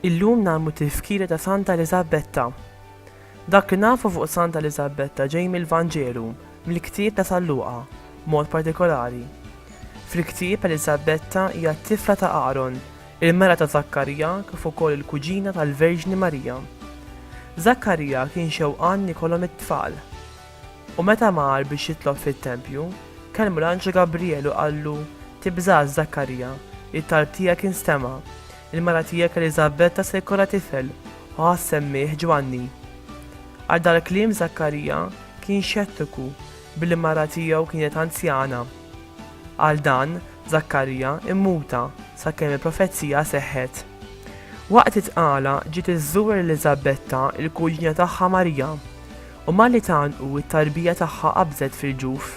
Illum nagħmlu tifkira ta' Santa Eliżabetta. Dak li nafu fuq Santa Eliżabetta ġej mill-Vanġelu, mill-ktieb ta' San Luqa, mod partikolari. Fil-ktieb Eliżabetta hija t-tifla ta' Aaron, il-mara ta' Żakkarija kif ukoll il-kuġina tal-Verġni Marija. Żakkarija kien xewqan li jkollhom it-tfal. U meta mar biex jitlob fit-tempju, kellmu l-anġlu Gabrijel u qallu, Tibżax, Żakkarija, it-talb tiegħek instema'. Il-mara tiegħek Eliżabetta se jkollha tifel, u ħa ssemmih Ġwanni. Għal dal-kliem Żakkarija kien xettiku, Billi mara tiegħu kienet anzjana. Għal dan, Żakkarija immuta sakemm il-profezija seħħet. Waqt it-tqala ġiet iżżur Eliżabetta l-kuġina tagħha Marija, u malli tgħannqu t-tarbija tagħha qabżet fil-ġuf.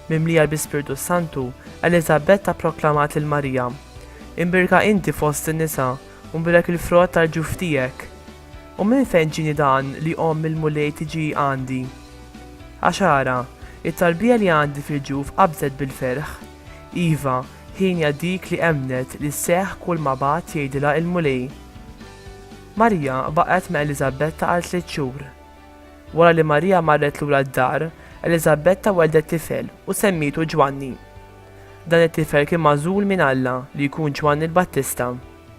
Mimlija bl-Ispirtu s-Santu, Eliżabetta pproklamat lil Marija, Imbierka inti fost in-nisa, u mbirak il-frott tal-ġuf tiegħek! U minn fejn ġieni dan li omm il-Mulej tiġi għandi? Għax ara, it-tarbija li għandi fil-ġuf qabżet bil-ferħ. Iva, hienja dik li emmnet li sseħħ kulma bagħat jgħidilha il-Mulej. Marija baqgħet ma' Eliżabetta għal tliet xhur. Wara li Marija marret lura d-dar, Eliżabetta welldet tifel u semmietu Ġwanni. Dan it-tifel kien magħżul minn Alla li jkun Ġwanni l-Battista.